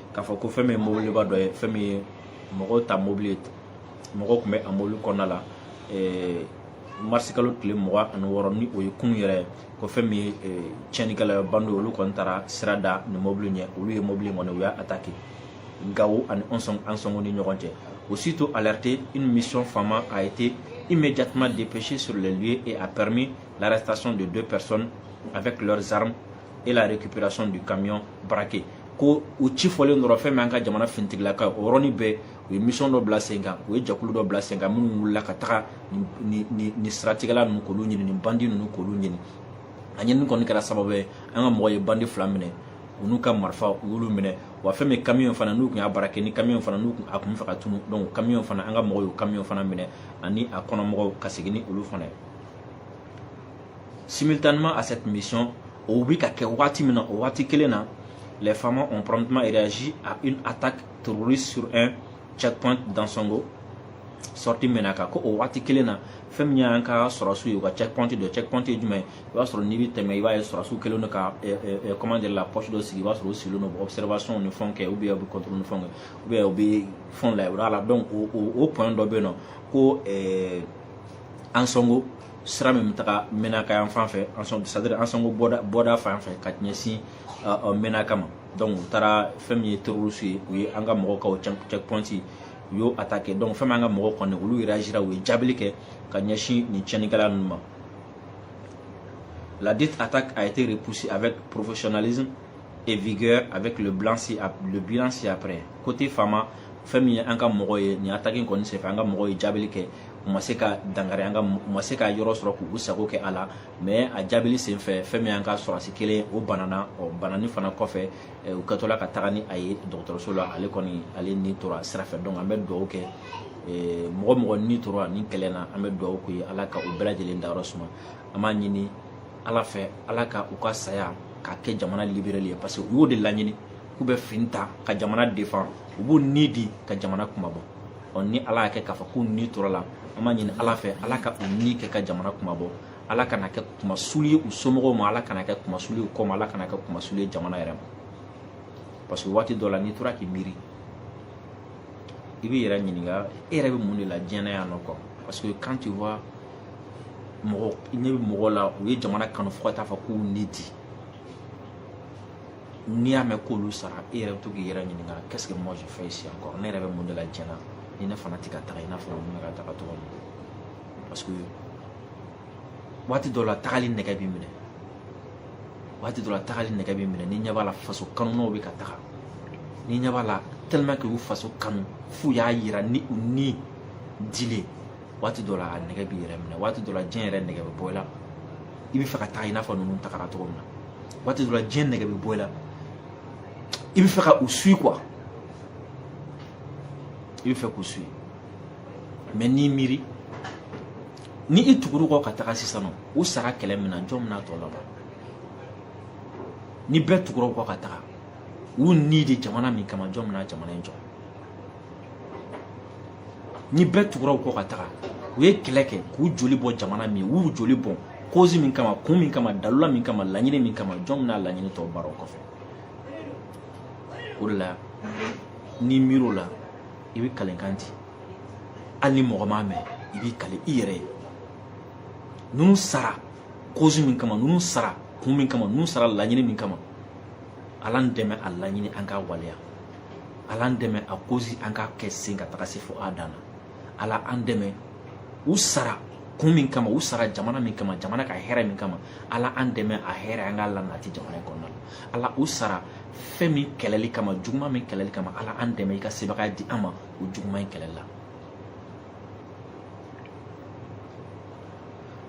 k'a fɔ ko fɛn min ye mobiliba dɔ ye fɛn min ye mɔgɔw ta mobili mɔgɔw tun bɛ a mobili kɔnɔna la eh, marisikalo tile mugan ani wɔɔrɔ ni o ye kunun yɛrɛ ko fɛn min ye eh, tiɲɛnikɛla bandiw olu kɔni taara sira da nin mobili ɲɛ olu ye mobili kɔni u y'a attaqué Gao ani Ansongo ni ɲɔgɔn cɛ aussitôt alerté une mission FAMa a été immédiatement dépêchée sur les lieux et a permis l'arrestation de deux personnes avec leurs armes et la récupération du camion braqué ko u ci fɔlen dɔrɔn fɛn min an ka jamana finitigilaka o yɔrɔnin bɛɛ u ye mission dɔ bila sen kan u ye jɛkulu dɔ bila sen kan minnu wulila ka taga nin siratigɛla ninnu k'olu ɲini nin bandi ninnu k'olu ɲini a ɲinini kɔni kɛra sababu ye an ka mɔgɔw ye bandi fila minɛ u n'u ka marifa u y'olu minɛ wa fɛn min kamiyon fana n'u tun y'a braqué ni kamiyon fana n'u tun b'a fɛ ka tunu donc kamiyon fana an ka mɔgɔw y'o kamiyon fana minɛ ani a kɔnɔmɔgɔw ka segin ni olu fana ye Simultanément à cette mission, o bɛ ka kɛ waati min na o waati kelen na les FAMa ont promptement réagi à une attaque terroriste sur un checkpoint d'Ansongo sortie Ménaka ko o waati kelen na fɛn min y'an ka sɔrɔsiw ye u ka checkpoint dɔ checkpoint ye jumɛn i b'a sɔrɔ n'i bɛ tɛmɛ i b'a ye sɔrɔsiw kɛlen don ka eh, eh, eh, comment dire la poste dɔ sigi i b'a sɔrɔ u sigilen don observation ni fɛnw kɛ ou bien u bɛ contrôle ni fɛnw kɛ ou bien u bɛ fɛnw lajɛ o la donc o o o point dɔ bɛ yen nɔ ko ɛɛ Ansongo sira min bɛ taga Ménaka yan fan fɛ c'est-à-dire Ansongo bɔda bɔda fan fɛ ka ɲɛsin Ménaka ma donc u taara fɛn min ye terroristes ye u ye an ka mɔgɔw ka o checkpoint u y'o attaqué donc fɛn min an ka mɔgɔw kɔni olu réagira u ye jaabili kɛ ka ɲɛsin nin tiɲɛnikɛla ninnu ma ladite attaque a été repoussée avec professionnalisme et vigueur avec le bilan ci le bilan ci-après côté FAMa fɛn min ye an ka mɔgɔw ye nin attaque kɔni senfɛ an ka mɔgɔw ye jaabili kɛ u ma se ka dankari an ka u ma se ka yɔrɔ sɔrɔ k'u sago kɛ a la mais a jaabili senfɛ fɛn min y'an ka sɔrɔsi kelen o banana o bananen fana kɔfɛ u kɛtɔla ka taga ni a ye dɔgɔtɔrɔso la ale kɔni ale ni tora sira fɛ donc an bɛ dugawu kɛ mɔgɔ o mɔgɔ ni tora nin kɛlɛ na an bɛ dugawu k'u ye ala ka u bɛɛ lajɛlen dayɔrɔ suma an b'a ɲini ala fɛ ala ka u ka saya ka kɛ jamana liberali ye parce que u y'o de laɲini k'u bɛ fini ta ka jamana defan u b'u ni di ka jamana kunmabɔ ɔ ni ala y'a kɛ k'a fɔ k'u ni tora a la an b'a ɲini ala fɛ ala ka u ni kɛ ka jamana kunmabɔ ala kana kɛ kunmasuli ye u somɔgɔw ma ala kana kɛ kunmasuli ye kɔ ma ala kana kɛ kunmasuli ye jamana yɛrɛ ma parce que waati dɔ la n'i tora k'i miiri i b'i yɛrɛ ɲininka e yɛrɛ bɛ mun de la diɲɛ na yan o kɔ parce que quand tu vois mɔgɔ ɲɛ bɛ mɔgɔ la u ye jamana kanu fo ka taa fɔ k'u ni di n'i y'a mɛn k'olu sara e yɛrɛ bɛ to k'i yɛrɛ ɲininka qu'est-ce que moi je fais ici encore ne yɛrɛ bɛ mun de la diɲɛ na ni ne fana tɛ ka taga i n'a fɔ ninnu bɛ ka taga cogo min parce que waati dɔ la tagali nɛgɛ b'i minɛ waati dɔ la tagali nɛgɛ b'i minɛ n'i ɲɛ b'a la faso kanunaw bɛ ka taga n'i ɲɛ b'a la tellement que u faso kanu f'u y'a yira ni u ni dilen waati dɔ la a nɛgɛ b'i yɛrɛ minɛ waati dɔ la diɲɛ yɛrɛ nɛgɛ bɛ bɔ i la i b'a fɛ ka taa i n'a fɔ ninnu tagara cogo min na waati dɔ la diɲɛ nɛgɛ bɛ bɔ i la i b'a fɛ ka u suivi quoi i b'a fɛ k'u suivi mais n'i miiri ni i tugura u kɔ ka taga sisan nɔ u sara kɛlɛ min na jɔn bɛna tɔ laban ni bɛɛ tugura u kɔ ka taga u ni di jamana min kama jɔn bɛna jamana in jɔ ni bɛɛ tugura u kɔ ka taga u ye kɛlɛ kɛ k'u joli bɔn jamana min u y'u joli bɔn kozi min kama kun min kama dalula min kama laɲini min kama jɔn bɛna laɲini tɔ baara o kɔfɛ o de la n'i miiri o la i bɛ kalenkan di hali ni mɔgɔ m'a mɛn i b'i kalen i yɛrɛ ye ninnu sara kozi min kama ninnu sara kun min kama ninnu sara laɲini min kama ala an dɛmɛ a laɲini an k'a waleya ala an dɛmɛ a kozi an k'a kɛ sen ka taga se fo a dan na ala an dɛmɛ u sara kun min kama u sara jamana min kama jamana ka hɛrɛ min kama ala an dɛmɛ a hɛrɛ an k'a lanati jamana in kɔnɔna la ala u sara fɛn min kɛlɛli kama juguman min kɛlɛli kama ala an dɛmɛ i ka sebagaya di an ma o juguman in kɛlɛli la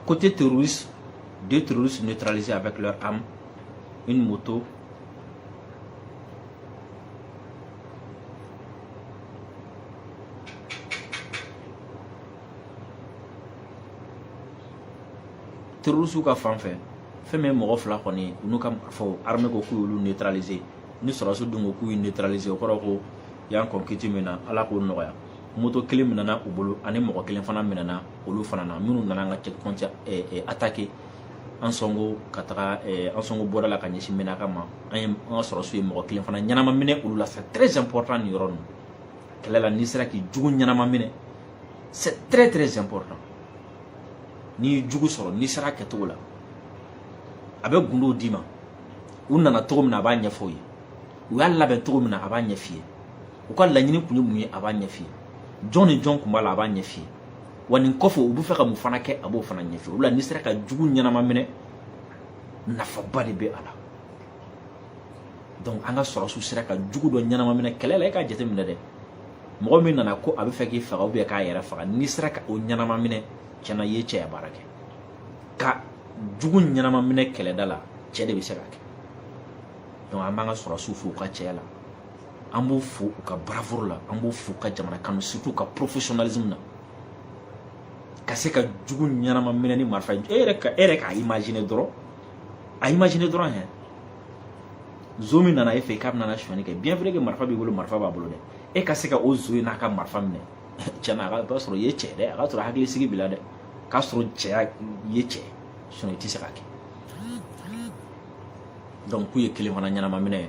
côté terroriste deux terroristes neutralisés avec leurs armes une moto terrorisiw ka fan fɛ fɛn min ye mɔgɔ fila kɔni ye u n'u ka fɔ armée ko k'u y'olu neutraliser ni sɔrɔdasiw dun ko k'u y'u neutraliser o kɔrɔ ko u y'an kɔn kiti min na ala k'o nɔgɔya moto kelen minɛna u bolo ani mɔgɔ kelen fana minɛna olu fana na minnu nana an ka checkpoint attaquer ansongo ka taga eh, ansongo bɔda la ka ɲɛsin menaka ma an ye an ka sɔrɔsiw ye mɔgɔ kelen fana ɲɛnama minɛ olu la c'est très important nin yɔrɔ ninnu kɛlɛ la n'i sera k'i jugu ɲɛnama minɛ c'est très très important n'i ye jugu sɔrɔ n'i sera kɛcogo la a bɛ gundow d'i ma u nana cogo min na a b'a ɲɛfɔ i ye u y'a labɛn cogo min na a b'a ɲɛf'i ye u ka laɲini kun ye mun ye a b'a ɲɛf'i ye jɔn ni jɔn kun b'a la a b'a ɲɛf'i ye wa nin kɔfɛ u bɛ fɛ ka mun fana kɛ a b'o fana ɲɛf'i ye o la n'i sera ka jugu ɲɛnama minɛ nafaba de bɛ a la donc an ka sɔrɔsiw sera ka jugu dɔ ɲɛnama minɛ kɛlɛ la e k'a jateminɛ dɛ mɔgɔ min nana ko a bɛ fɛ k'i faga ou bien k'a yɛrɛ faga n'i sera ka o ɲɛnama minɛ tiɲɛ na i ye cɛya baara kɛ ka jugu ɲɛnama minɛ kɛlɛda la cɛ de bɛ se k'a kɛ donc an b'an ka sɔrɔsiw fo u ka cɛya la an b'u fo u ka bravoure la an b'u fo u ka jamana kanu surtout ka professionnalisme na ka se ka jugu ɲɛnama minɛ ni marifa e yɛrɛ ka e yɛrɛ k'a imaginer dɔrɔn a imaginer dɔrɔn hɛ zon min nana e fɛ k'a bɛna sonyani kɛ bien vrai que marifa b'i bolo marifa b'a bolo dɛ e ka se ka o zon in n'a ka marifa minɛ tiɲɛ na a ka sɔrɔ i ye cɛ dɛ a ka sɔrɔ hakili sigi b'i la dɛ k'a sɔrɔ cɛya i ye cɛ sinon i tɛ se k'a kɛ donc k'u ye kelen fana ɲɛnama minɛ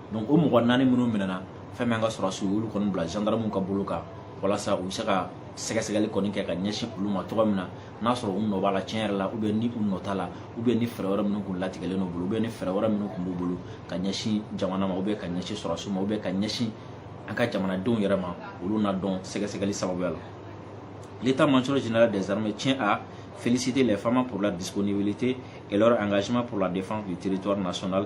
donc o mɔgɔ naani minnu minɛna fɛn min an ka sɔrɔsiw y'olu kɔni bila gendarmew ka bolo kan walasa u bɛ se ka sɛgɛsɛgɛli kɔni kɛ ka ɲɛsin olu ma cogo min na n'a sɔrɔ u nɔ b'a la tiɲɛ yɛrɛ la ou bien ni u nɔ t'a la ou bien ni fɛɛrɛ wɛrɛ minnu kun latigɛlen n'u bolo ou bien ni fɛɛrɛ wɛrɛ minnu kun b'u bolo ka ɲɛsin jamana ma ou bien ka ɲɛsin sɔrɔsiw ma ou bien ka ɲɛsin an ka jamanadenw yɛrɛ ma olu na dɔn sɛgɛsɛgɛli sababuya la l'état major général des armées tient à féliciter les fama pour leur disponibilité et leur engagement pour la défense du territoire national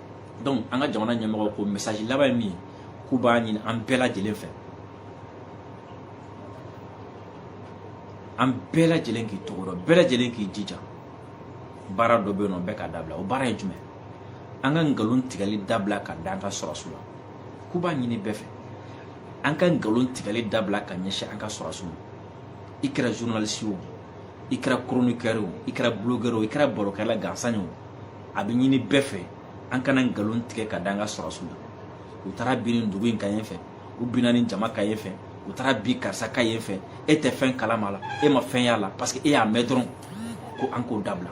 donc an ka jamana ɲɛmɔgɔw ko message laban ye min ye k'u b'a ɲini an bɛɛ lajɛlen fɛ an bɛɛ lajɛlen k'i tɔgɔ dɔn bɛɛ lajɛlen k'i jija baara dɔ bɛ yen nɔ bɛɛ k'a dabila o baara ye jumɛn an ka nkalon tigɛli dabila ka da an ka sɔrɔsiw la k'u b'a ɲini bɛɛ fɛ an ka nkalon tigɛli dabila ka ɲɛsin an ka sɔrɔsiw ma i kɛra journaliste ye o i kɛra chroniqueur ye o i kɛra blogueur ye o i kɛra barokɛla gansan ye o a bɛ ɲini bɛɛ fɛ an kana nkalon tigɛ ka da an ka sɔrɔsiw la u taara bin nin dugu in kan yen fɛ u binna nin jama kan yen fɛ u taara bin karisa kan yen fɛ e tɛ fɛn kalama la e ma fɛn y'a la parce que e y'a mɛn dɔrɔn ko an k'o dabila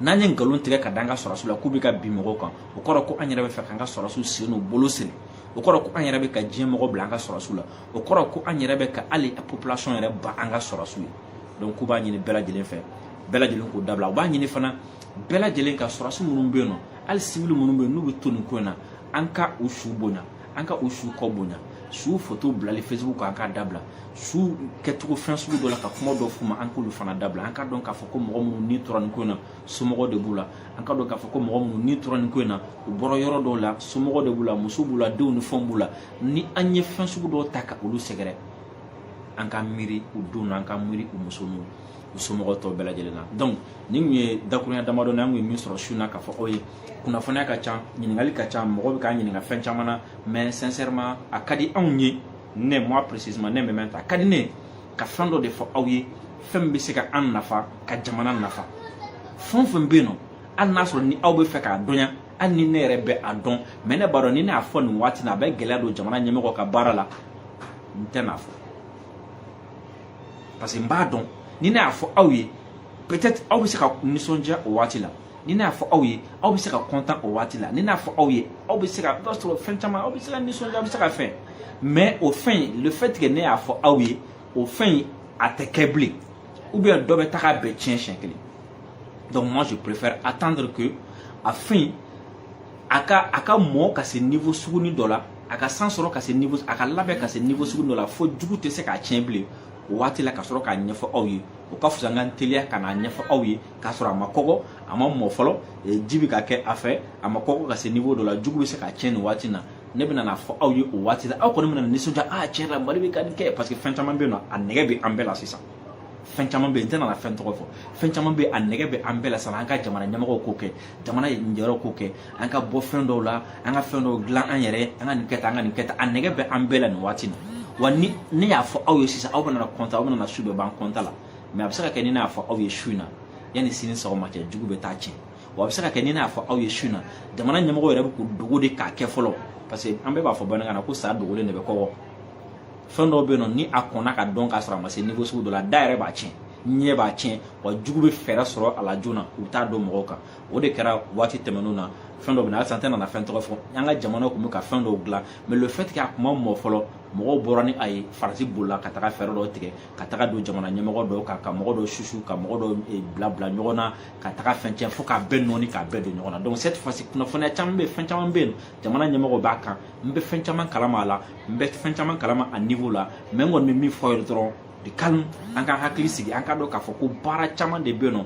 n'an ye nkalon tigɛ ka da an ka sɔrɔsiw la k'u bɛ ka bin mɔgɔw kan o kɔrɔ ko an yɛrɛ bɛ fɛ k'an ka sɔrɔsiw sen n'u bolo siri o kɔrɔ ko an yɛrɛ bɛ ka diɲɛ mɔgɔ bila an ka sɔrɔsiw la o kɔrɔ ko an yɛrɛ bɛ ka hali population yɛrɛ ban an ka sɔrɔsiw ye donc k'u b'a ɲini bɛɛ lajɛlen fɛ bɛɛ lajɛlen k'o dabila u b'a ɲini fana bɛɛ lajɛlen ka sɔrɔdasi minnu bɛ yen nɔ hali sibili minnu bɛ yen n'u bɛ to nin ko in na an ka u su bonya an ka u su kɔ bonya su foto bilali facebook kan an k'a dabila su kɛcogo fɛn sugu dɔ la ka kuma dɔ f'u ma an k'olu fana dabila an ka dɔn k'a fɔ ko mɔgɔ minnu ni tora nin ko in na somɔgɔ de b'u la an ka dɔn k'a fɔ ko mɔgɔ minnu ni tora nin ko in na u bɔra yɔrɔ dɔw la somɔgɔ de b'u la muso b'u la denw ni fɛnw b'u la ni an ye fɛn sugu dɔw ta ka olu sɛgɛrɛ an ka miiri u denw na an ka miiri u muso n'u u somɔgɔ tɔ bɛɛ lajɛlen na donc nin tun ye dakurunya damadɔ na an kun ye min sɔrɔ su na k'a fɔ aw ye kunnafoniya ka ca ɲininkali ka ca mɔgɔ bɛ k'an ɲininka fɛn caman na mais sincèrement a ka di anw ye ne moi précisément ne mɛmɛ ta a ka di ne ka fɛn dɔ de fɔ aw ye fɛn min bɛ se ka an nafa ka jamana nafa fɛn o fɛn bɛ yen nɔ hali n'a sɔrɔ ni aw bɛ fɛ k'a dɔnya hali ni ne yɛrɛ bɛ a dɔn mais ne b'a dɔn ni ne y'a fɔ nin waati na a bɛ gɛlɛya don jamana ɲɛmɔgɔ ka baara la n tɛ n'a fɔ parce que n b'a dɔn ni ne y'a fɔ aw ye peut-être aw bɛ se ka nisɔndiya o waati la ni ne y'a fɔ aw ye aw bɛ se ka content o waati la ni ne y'a fɔ aw ye aw bɛ se ka i b'a sɔrɔ fɛn caman aw bɛ se ka nisɔndiya aw bɛ se ka fɛn mais o fɛn in le fait que ne y'a fɔ aw ye o fɛn in a tɛ kɛ bilen ou bien dɔ bɛ taga bɛɛ tiɲɛ siɲɛ kelen donc moi je préfère attendre que a fɛn in a ka a ka mɔ ka se niveau suguni dɔ la a ka san sɔrɔ ka se niveau a ka labɛn ka se niveau sugu dɔ la fo jugu tɛ se k'a tiɲɛ bilen o waati la ka sɔrɔ k'a ɲɛfɔ aw ye o ka fisa n ka n teliya ka n'a ɲɛfɔ aw ye k'a sɔrɔ a ma kɔgɔ a ma mɔ fɔlɔ e, ji bɛ ka kɛ a fɛ a ma kɔgɔ ka se niveau dɔ la jugu bɛ se k'a tiɲɛ nin waati na ne bɛna n'a fɔ aw ye o waati la aw kɔni bɛna nisɔndiya a ah, tiɲɛ la mali bɛ ka nin kɛ parce que fɛn caman bɛ yen nɔ a nɛgɛ bɛ an bɛɛ la sisan fɛn caman bɛ yen n tɛna na fɛn tɔgɔ fɔ fɛn caman bɛ yen a nɛgɛ bɛ an bɛɛ la sisan an ka jamana ɲɛmɔgɔw k'o kɛ jamana ɲɛmɔgɔw k'o kɛ an ka bɔ fɛn dɔw la an ka fɛn dɔw dilan an yɛrɛ an ka nin kɛ tan an ka nin kɛ tan a nɛgɛ bɛ an bɛɛ la nin waati na wa ni ne y'a fɔ aw ye sisan aw bɛna content aw bɛna su bɛɛ ban content la mais a bɛ se ka kɛ ni ne y'a fɔ aw ye su in na yanni sini sɔgɔma cɛ jugu bɛ taa tiɲɛ wa a bɛ se ka kɛ ni ne y'a fɔ aw ye su in na jamana ɲɛmɔgɔw yɛrɛ bɛ k'u dogo de k'a kɛ fɔlɔ parce que an bɛɛ b'a fɔ bamanankan na ko sa dogolen de bɛ kɔgɔ fɛn dɔw bɛ yen nɔ ni a kɔnna ka dɔn k'a sɔrɔ a ma se niveau sugu dɔ la da yɛrɛ b'a tiɲɛ ɲɛ b'a tiɲɛ wa jugu bɛ fɛɛrɛ sɔrɔ a la joona u bɛ taa don mɔgɔw kan o de kɛra waati tɛmɛnenw na fɛn dɔ bɛ na halisa n tɛna na fɛn tɔgɔ fɔ an ka jamana tun bɛ ka fɛn dɔw dilan mais le fait que a kun ma mɔ fɔlɔ mɔgɔw bɔra ni a ye faransi bolila ka taga fɛɛrɛ dɔw tigɛ ka taga don jamana ɲɛmɔgɔ dɔw kan ka mɔgɔ dɔw susu ka mɔgɔ dɔw eh, bila bila ɲɔgɔn na ka taga fɛn tiɲɛ fo k'a bɛɛ nɔɔni k'a bɛɛ don ɲɔgɔn na donc cette fois ci kunnafoniya caman bɛ yen fɛn caman bɛ yen jamana ɲɛmɔgɔ b'a kan n bɛ fɛn caman kalama a la n bɛ fɛn caman kalama a niveau la mais n kɔni bɛ min fɔ aw ye dɔrɔn de calme an ka hakili sigi an ka dɔn k'a fɔ ko baara caman de bɛ yen nɔ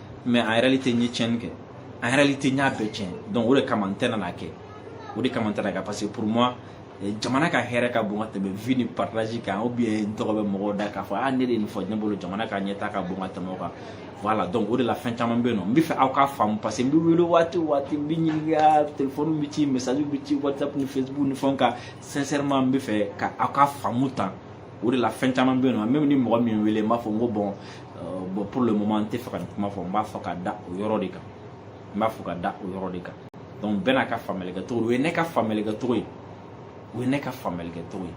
mais en réalité n ye tiɲɛni kɛ en réalité n y'a bɛɛ tiɲɛ donc o de kama n tɛna n'a kɛ o de kama n tɛna kɛ parce que pour moi eh, jamana ka hɛrɛ ka bon ka tɛmɛ vue ni partage kan ou bien n tɔgɔ bɛ mɔgɔw da k'a fɔ a ah, ne de ye nin fɔ ne bolo jamana ka ɲɛtaa ka bon ka tɛmɛ o kan voilà donc o de la fɛn caman bɛ yen nɔ n bɛ fɛ aw k'a faamu parce que n bɛ wele waati o waati n bɛ ɲininka telefɔni bɛ ci message bɛ ci whatsapp ni facebook ni fɛnw kan sincèrement n bɛ fɛ ka aw ka faamu tan o de la fɛn caman bɛ yen nɔ même ni mɔgɔ min wele n b'a fɔ n ko bon bon pour le moment n tɛ fɛ ka nin kuma fɔ n b'a fɔ ka da o yɔrɔ de kan n b'a fɔ ka da o yɔrɔ de kan donc bɛɛ n'a ka faamuyali kɛ cogo o ye ne ka faamuyali kɛ cogo ye o ye ne ka faamuyali kɛ cogo ye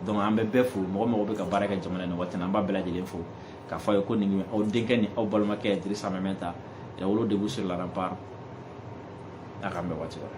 donc an bɛ bɛɛ fo mɔgɔ mɔgɔ bɛ ka baara kɛ jamana in na waati na an b'a bɛɛ lajɛlen fo k'a fɔ a ye ko nin aw denkɛ ni aw balimakɛ dirisa mɛminta lawolo debout sur la rempart a k'an bɛn waati wɛrɛ